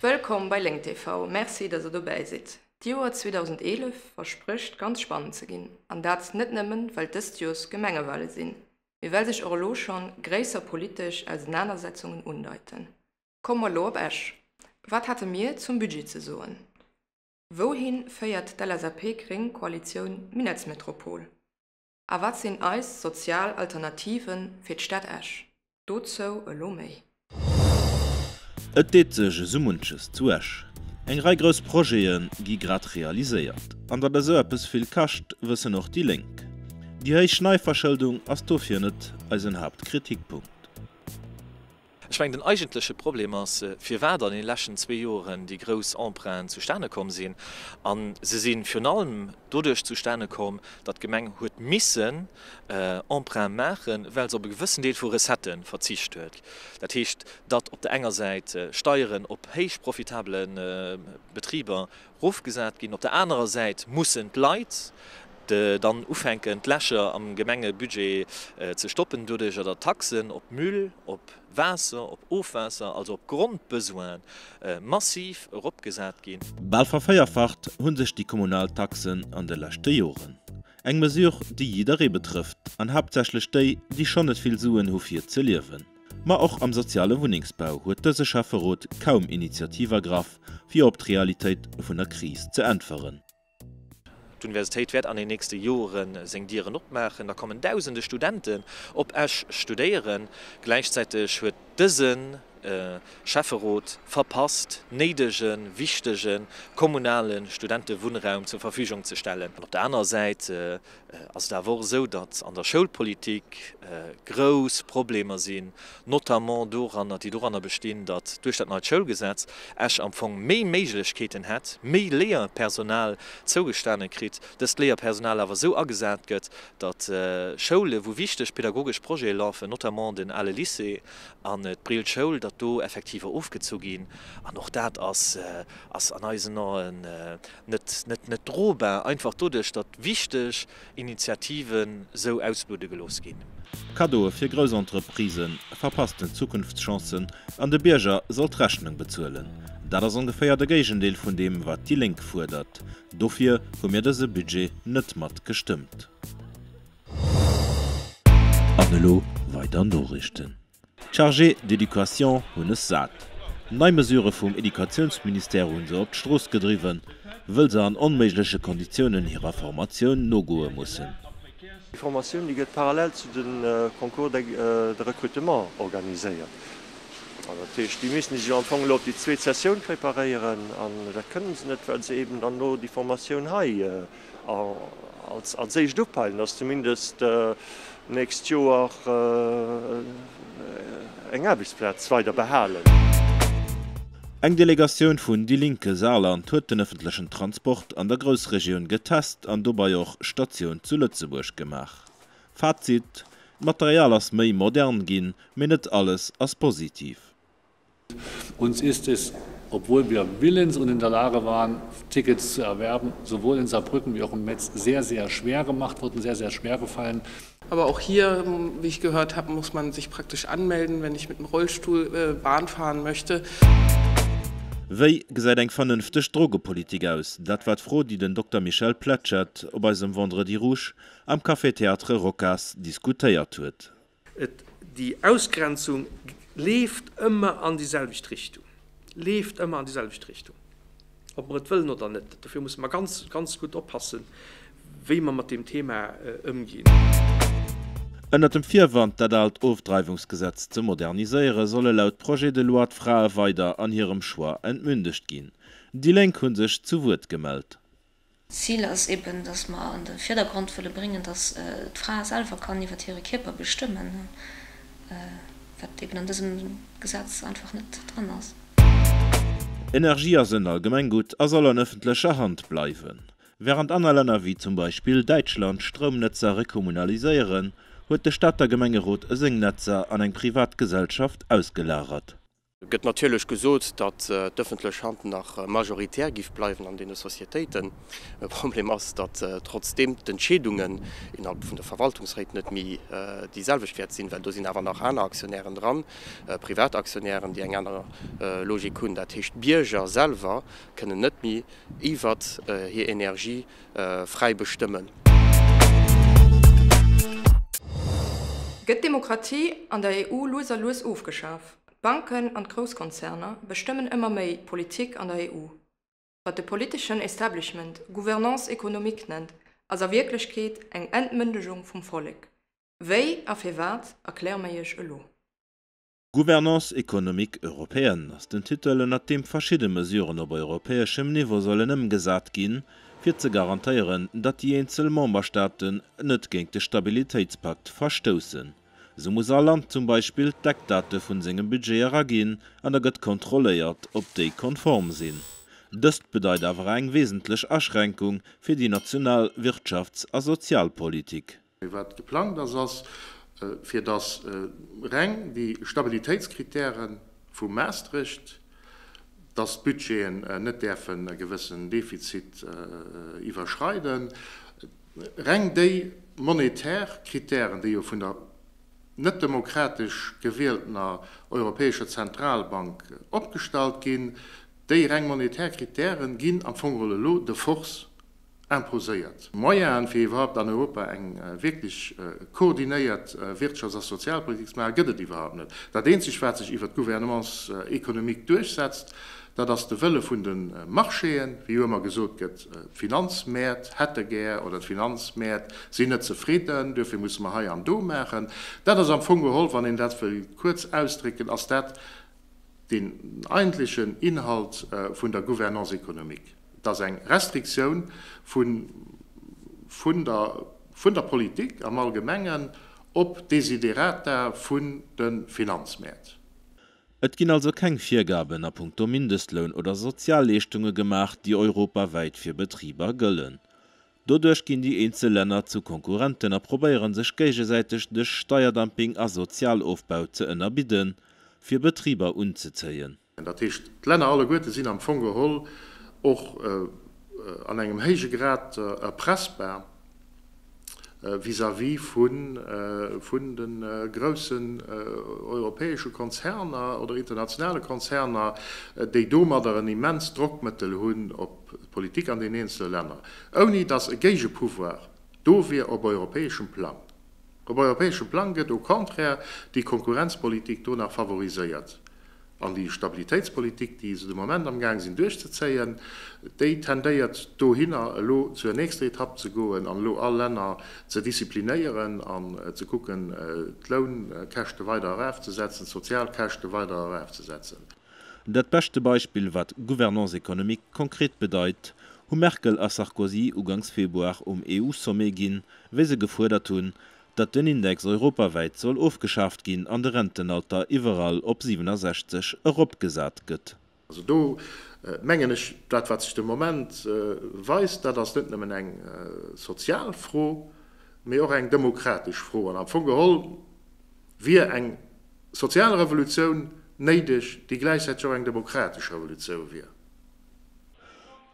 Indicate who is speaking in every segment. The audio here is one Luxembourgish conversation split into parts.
Speaker 1: Wëllkomm bei Lénk TV, Merci dass der dobäi sidd. D'Joer 2011 versprécht ganz spannend ze ginn, an dat net nëmmen well dëst Joers d'Gemengewale sinn, mee well sech och elo schonn gréisser politesch Ausenanersetzungen undeiten. Komme mer elo op Esch, Wat hate mir zum Budget ze soen? Wouhin féiert d'LSAP-Gréng Koalitioun Minettsmetropol? A wat sinn eis sozial Alternativen fir d'Stad Esch? Dozou elo méi.
Speaker 2: Et deet sech esou munches zu Esch. Eng Rei grouss Projete gi grad realiséiert. An datt esou eppes vill kascht, wëssen och déi Lénk. Déi héich Neiverschëldung ass dofir net eisen Haaptkritikpunkt.
Speaker 3: Ech mengen, den eigentleche Problem ass, firwat an deene leschten zwee Joren déi grouss Emprunten zustane komm sinn. A se si virun allem doduerch zustane komm, datt d'Gemeng huet missen Emprunte maachen, well se op e gewëssen Deel vu Recettë verzicht huet. Dat heescht, datt op der enger Säit Steieren op héich profitabele Betriber Rofgesat ginn. Op der anerer Säit mussen d'Leit dann ufänken d'Lächer am Gemengebudget ze stoppen, doduercher datt d'Taxen op Müll, op Waasser, op Ofwaasser, also op Grondbesoine massiv eropgesat ginn. Bal verféierfacht
Speaker 2: hu sech déi kommunal Taxen an de leschte Joren. Eng Mesure déi jidderee betrëfft an haaptsächlech déi, déi schonn net vill Suen hu fir ze liewen. Ma och am soziale Wunnengsbau huet dëse Schäfferot kaum Initiativ ergraff, fir op d'Realitéit vun der Kris ze äntweren.
Speaker 3: D'Universitéit wäert an den nächste Jore seng Dieren opmaachen. Da kommen dausende Studenten op Esch studéieren. Gläichzäiteg huet dëse Schäfferot verpasst, néidege, wichtege kommunale Studentewunnraum zur Verfügung ze stellen. Op der anerer Säit ass et awer och esou, datt an der Schoulpolitik grouss Problemer sinn, notamment doranner, déi doranner bestinn, datt duerch dat neit Schoulgesetz Esch am Fong méi Méiglechkeeten hätt, méi Léierpersonal zougestane kritt, dëst Léierpersonal awer esou agesat gëtt, datt Schoule wou wichteg pedagogesch Projete lafen, notamment den ale Lycée an d'Brill Schoul, datt do Effektiver ofgezu ginn. An och dat ass an eisen Aen Net net net drobar, einfach doduerch, datt wichteg Initiativen sou ausbludde gelooss ginn. Cadeaue fir
Speaker 2: grouss Entreprisen verpassten Zukunftschancen an de Bierger soll d'Rechnung bezuelen. Dat ass ongeféier de Géigendeel vun deem, wat déi Lénk fuerdert. Dofir hu mir dëse Budget net mat gestëmmt. An elo weider Noriichten. D'Chargés d'éducation hunn es sat. Nei Mesurë vum Educatiounsministère hunn se op d'Strooss gedriwwen, wëll se an onméigleche Konditiounen hirer Formatioun nogoe mussen. Déi Formatioun,
Speaker 4: déi gëtt parallel zu de Concours de recrutement organiséiert. Dat heescht, déi misste sech jo am Fong elo op déi zweet Sessioun préparéieren. An dat kënnen se net, well se eben dann elo déi Formatioun hei Als éischt upeilen, dass zumindest d'nächst Joer eng Aarbechtsplaz weider behalen.
Speaker 2: Eng Delegatioun vun Die Linke Saarland huet den ëffentlechen Transport an der Groussregioun getest an dobei och Statioun zu Lëtzebuerg gemaach. Fazit, D'Material ass méi modern ginn, mee net alles ass positiv.
Speaker 5: Uns ist es, obwohl wir willens und in der Lage waren, Tickets zu erwerben, sowohl in Saarbrücken wie auch in Metz sehr, sehr schwer gemacht worden, sehr, sehr schwer gefallen. Aber auch hier,
Speaker 6: wie ich gehört habe, muss man sich praktisch anmelden, wenn ich mit dem Rollstuhl Bahn fahren möchte.
Speaker 2: Wéi gesäit eng vernënfteg Drogepolitik aus? Dat war d'Fro, déi den Dokter Michel Pletschet op eisem Vendredi Rouge am Café Théâtre Rocas diskutéiert huet. Et, déi
Speaker 7: Ausgrenzung leeft ëmmer an déi selwecht Richtung, leeft ëmmer an déi selwecht Richtung, ob mer et wëllen oder net. Dofir musse mer ganz, ganz gutt oppassen, wéi mer mat deem Thema ëmginn.
Speaker 2: Ënnert dem Virwand, dat aalt Ofdreiwungsgesetz ze moderniséieren, solle laut Projet de loi d'Frae weider an hirem Choix entmündegt ginn. Déi Lénk hu sech zu Wuert gemellt. D'Zil ass
Speaker 8: eben, dass mer an de Virdergrond wëlle bréngen, dass d'Fra selwer kann iwwert hire Kierper bestëmmen, wat eben an dësem Gesetz einfach net dran ass.
Speaker 2: Energie ass en Allgemenggutt a soll an ëffentlecher Hand bleiwen. Wärend aner Länner wéi zum Beispill Däitschland Stroumnetzer rekommunaliséieren, huet de Stater Gemengerot seng Netzer an eng privat Gesellschaft ausgelagert. Et gëtt
Speaker 9: natierlech gesot, datt d'ëffentlech Hand nach majoritär géif bleiwen an deene Societéiten. E Problem ass, datt trotzdeem d'Entscheedungen innerhalb vun de Verwaltungsréit net méi déi selwecht wäert sinn, well do sinn awer nach aner Aktionären dran, privat Aktionären, déi eng aner Logik hunn. Dat heescht, d'Bierger selwer kënnen net méi iwwert hir Energie fräi bestëmmen.
Speaker 1: Gëtt d'Demokratie an der EU lues a lues ofgeschaf? D'Banken an d'Grousskonzerner bestëmmen ëmmer méi d'Politik an der EU. Wat de politeschen Establishment Gouvernance économique nennt, ass a Wierklechkeet eng Entmëndegung vum Vollek. Wéi a firwat, erkläre mir Iech elo. Gouvernance
Speaker 2: économique européenne ass den Titel, ënnert deem verschidde Mesuren op europäeschem Niveau sollen ëmgesat ginn, fir ze garantéieren, datt déi eenzel Memberstaaten net géint de Stabilitéitspakt verstoussen. Sou muss all Land zum Beispill d'Eckdate vun sengem Budget eraginn an da gëtt kontrolléiert, ob déi konform sinn. Dëst bedeit awer eng wesentlech Aschränkung fir déi national Wirtschafts a Sozialpolitik. Mee wat geplangt
Speaker 10: ass, ass, fir datt reng déi Stabilitéitskritäre vu Maastricht, datt d'Budgeten net däerfen e gewëssen Defizit iwwerschreiden, Reng déi monetär Kritären, déi jo vun der net demokratesch gewieltener Europäescher Zentralbank opgestallt ginn, déi reng monetär Kritären ginn am Fong geholl elo de Force imposéiert. Moyenen, fir iwwerhaupt an Europa eng wierklech koordinéiert Wirtschafts a Sozialpolitik ze maachen, gëtt et iwwerhaupt net. Dat eenzegt, wat sech iwwert d'Gouvernance économique duerchsetzt, dat ass de Wëlle vun de Marchéen, wéi jo ëmmer gesot gëtt. D'Finanzmäert hätte gär, oder d'Finanzmäert sinn net zefridden, duerfir musse mer hei an do maachen. Dat ass am Fong geholl, wann een dat wëll kuerz ausdrécken, ass dat den eigentlechen Inhalt vun der Gouvernance économique. Et ass eng Restriktioun vun der Politik am Allgemengen op d'Desiderata vun de Finanzmäert. Et
Speaker 2: ginn also keng Virgaben a punkto Mindestloun oder Sozialleeschtunge gemaach, déi europawäit fir Betriber gëllen. Doduerch ginn déi eenzel Länner zu Konkurrenten a probéieren sech géigesäiteg duerch Steierdumping a Sozialofbau ze ënnerbidden, fir Betriber unzezéien. Dat heescht,
Speaker 10: d'Länner alleguerte sinn am Fong geholl och an engem héije Grad erpressbar. vis-à-vis vun de groussen europäesche Konzerner oder internationale Konzerner, déi domadder en immens Drockmëttel hunn op d'Politik an den eenzele Länner, ouni datt e Géigepouvoir do wier op europäeschem Plang. Op europäeschem Plang gëtt au contraire déi Konkurrenzpolitik do nach favoriséiert. An déi Stabilitéitspolitik, déi se de Moment amgaang sinn duerchzezéien, déi tendéiert dohinner, elo zur nächster Etapp ze goen an elo all Länner ze disziplinéieren an ze kucken, d'Lounkäschte weider eraufzesetzen, d'Sozialkäschte weider eraufzesetzen. Dat
Speaker 2: beschte Beispill, wat Gouvernance économique konkret bedeit, hu Merkel a Sarkozy ugangs Februar um EU-Sommet ginn, wéi se gefuerdert hunn, datt den Index europawäit soll ofgeschaaft ginn an de Rentenalter iwwerall op 67 eropgesat gëtt. Also do
Speaker 10: mengen ech, dat wat sech de Moment weist, dat ass net nëmmen eng sozial Fro, mee och eng demokratesch Fro. An am Fong geholl wier eng Sozial Revolutioun néideg, déi gläichzäiteg och eng demokratesch Revolutioun wier.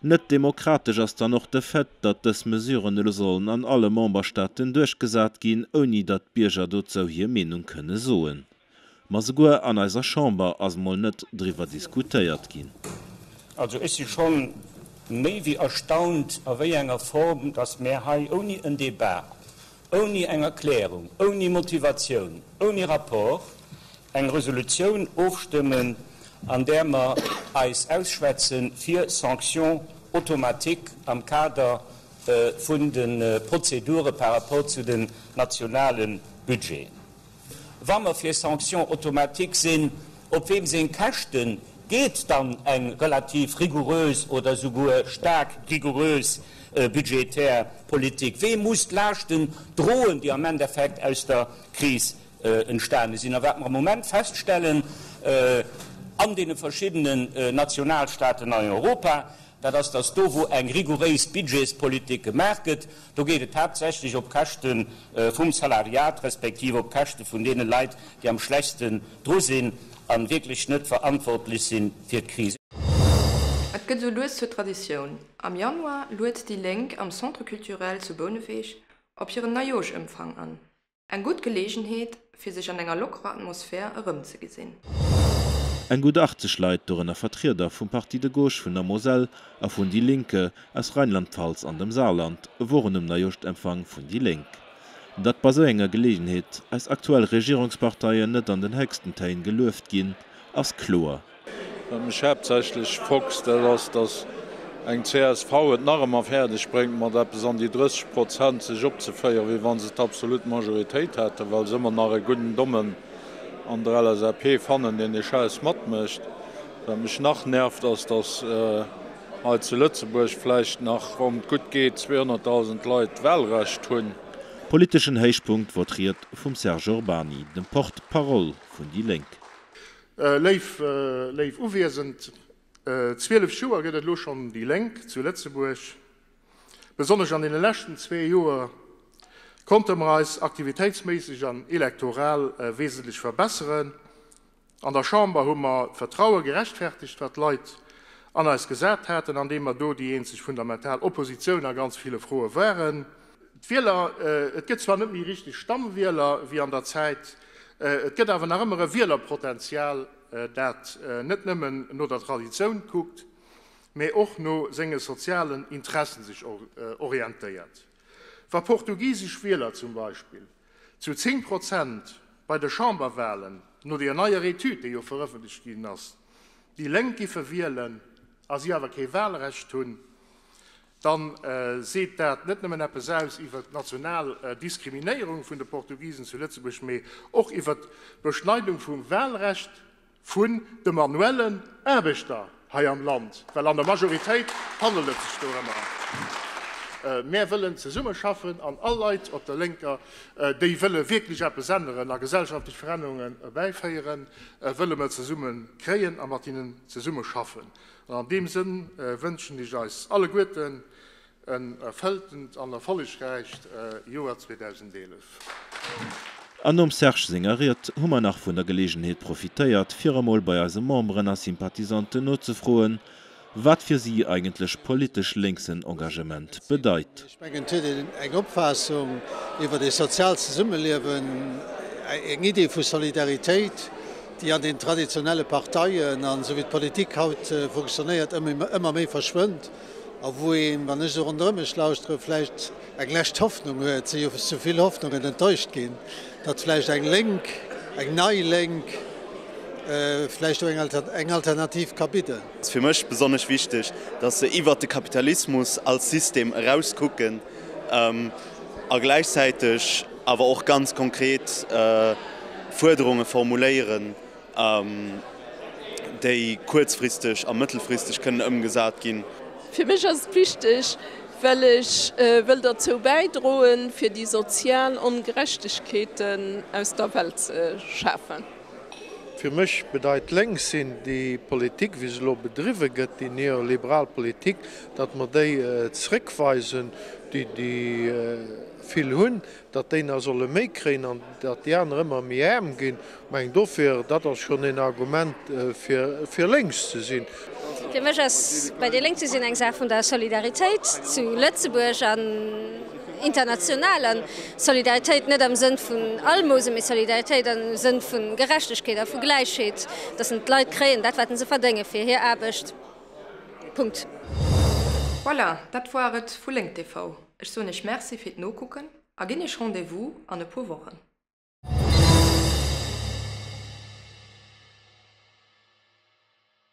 Speaker 2: Net demokratesch ass dann och de Fait, datt dës Mesuren elo sollen an alle Memberstaaten duerchgesat ginn, ouni datt d'Bierger dozou hir Meenung kënne soen. Ma souguer an eiser Chamber ass mol net driwwer diskutéiert ginn. Also ech
Speaker 11: si schonn méi wéi erstaunt, a wéi enger Form datt mär hei ouni en Débat ouni eng Erklärung, ouni Motivatioun, ouni Rapport eng Resolutioun ofstëmmen, an där mer eis ausschwätze fir Sanctions automatiques am Kader vun de Prozedure par rapport zu den nationale Budgeten. Wa mer fir Sanctions automatiques sinn, op weem seng Käschten geet dann eng relativ rigoureuse oder esouguer staark rigoureuse budgetär Politik? Wee muss d'Laaschten droen, déi am Endeffekt aus der Kris entstane sinn? A wat mer am Moment feststellen an deene verschiddenen Nationalstaaten a Europa, dat ass, datt do wou eng rigouréis Budgetspolitik gemaach gëtt, do geet et haaptsächlech op Käschte vum Salariat, respektiv op Käschte vun deene Leit, déi am schlechtsten dru sinn a wierklech net verantwortlech si fir d'Kris. Et
Speaker 1: gëtt esou lues zur Traditioun, am Januar luet déi Lénk am Centre Culturel zu Bouneweg op hiren Neijooschëmfang an. Eng gutt Geleegenheet, fir sech an enger lockerer Atmosphär erëmzegesinn. Eng
Speaker 2: gutt 80 Leit, dorënner Vertrieder vum Parti de gauche vun der Moselle a vun déi Lénke aus Rheinland-Pfalz an dem Saarland, woren um Neijooschtemfang vun déi Lénk. Datt bei sou enger Geleegenheet eis aktuell Regierungsparteien net an den héchsten Téin gelueft ginn, ass kloer. Wat mech
Speaker 12: haaptsächlech frockst, dat ass, datt eng csv et nach ëmmer fäerdeg bréngt, mat eppes an déi 30 Prozent sech opzeféieren, wéi wa se d'absolut Majoritéit hätten, well se ëmmer nach e gudden Dommen an der LSAP fannen, deen dee Schäiss matmécht. Wat mech nach nervt, ass, datt hei zu Lëtzebuerg vläicht nach ronn gutt geet 200.000 Leit d'Wahlrecht hunn. Politeschen
Speaker 2: Héichpunkt wor d'Ried vum Serge Urbany, dem Porte-parole vun déi Lénk. Léif,
Speaker 10: léif Uwiesend, 12 Joer gëtt et elo schonn déi Lénk zu Lëtzebuerg. Besonnesch an deene leschten zwee Joer konnte mer eis aktivitéitsméisseg an elektoral wesentlech verbesseren. An der Chamber hu mer d'Vertraue gerechtfertegt, wat d'Leit an eis gesat haten, andeem mer do déi eenzeg fundamental Oppositioun a ganz ville Froe waren. D'Wieler, et gëtt zwar net méi richteg Stammwieler wéi an der Zäit, et gëtt awer nach ëmmer e Wielerpotenzial, dat net nëmmen no der Traditioun kuckt, mä och no senge sozialen Interessen sech orientéiert. Wa portugisesch Wieler zum Beispill zu 10 Prozent bei de Chamberwalen, no deer neier Etüd, déi jo verëffentlecht ginn ass, déi Lénk giffe wielen, a si awer kee Walrecht hunn, dann seet dat net nëmmen eppes aus iwwert d'national Diskriminéierung vun de Portugisen zu Lëtzebuerg, mee och iwwert d'Beschneidung vum Wahlrecht vun de manuellen Aarbechter hei am Land, well an der Majoritéit handelt et sech dorëmmer. Mär wëllen zesummeschaffen an all Leit op der Lénker, déi wëlle wierklech eppes änneren a gesellschaftlech Verännerungen erbäiféieren, wëlle mer zesumme kréien a mat hinnen zesummeschaffen. An an deem Sënn wënschen ech eis alleguerten en erfëlltent an erfollegräicht Joer 2011.
Speaker 2: An nom Serge senger Ried hu mer nach vun der Geleegenheet profitéiert, fir emol bei eise Memberen a Sympathisanten nozefroen, wat fir si eigentlech politesch lénksen Engagement bedeit. Ech mengen, et huet een
Speaker 13: eng Opfaassung iwwert e soziaalt Zesummeliewen, eng Idee vu Solidaritéit, déi an den traditionelle Parteien an esou wéi d'Politik haut funktionéiert, ëmmer méi verschwënnt a wou een, wann ech esou ronderëm mech lauschtere, vläicht eng lescht Hoffnung huet. Et si jo sou vill Hoffnungen enttäuscht ginn, datt vläicht eng Lénk, eng nei Lénk vläicht do eng Alternativ ka bidden. Et ass fir mech
Speaker 14: besonnesch wichteg, datt se iwwert de Kapitalismus als System eraus kucken a gläichzäiteg awer och ganz konkret Fuerderunge formuléieren, déi kuerzfristeg a mëttelfristeg kënnen ëmgesat ginn. Fir mech ass et
Speaker 15: wichteg, well ech wëll derzou bäidroen, fir déi sozial Ongerechtegkeeten aus der Welt ze schafen. Fir
Speaker 16: mech bedeit lénks sinn, déi Politik, wéi se elo bedriwwe gëtt, déi neoliberal Politik, datt mer déi zrëckweisen, déi déi vill hunn, datt déi nach solle méi kréien an datt déi aner ëmmer méi aarm ginn. Meng dofir, dat ass schonn een Argument fir fir lénks ze sinn. Fir mech ass
Speaker 17: bei déi Lénk ze sinn eng Saach vun der Solidaritéit zu Lëtzebuerg an international. A Solidaritéit net am Sënn vun Almose, mee Solidaritéit am Sënn vu Gerechtegkeet a vu Gläichheet, dass en d'Leit kréien dat, wat en se verdénge fir hir Aarbecht. Punkt.
Speaker 1: Voilà, dat war et vu Lénk TV. Ech soen Iech Merci fir d'Nokucken a ginn Iech Rendez-vous an e puer Wochen.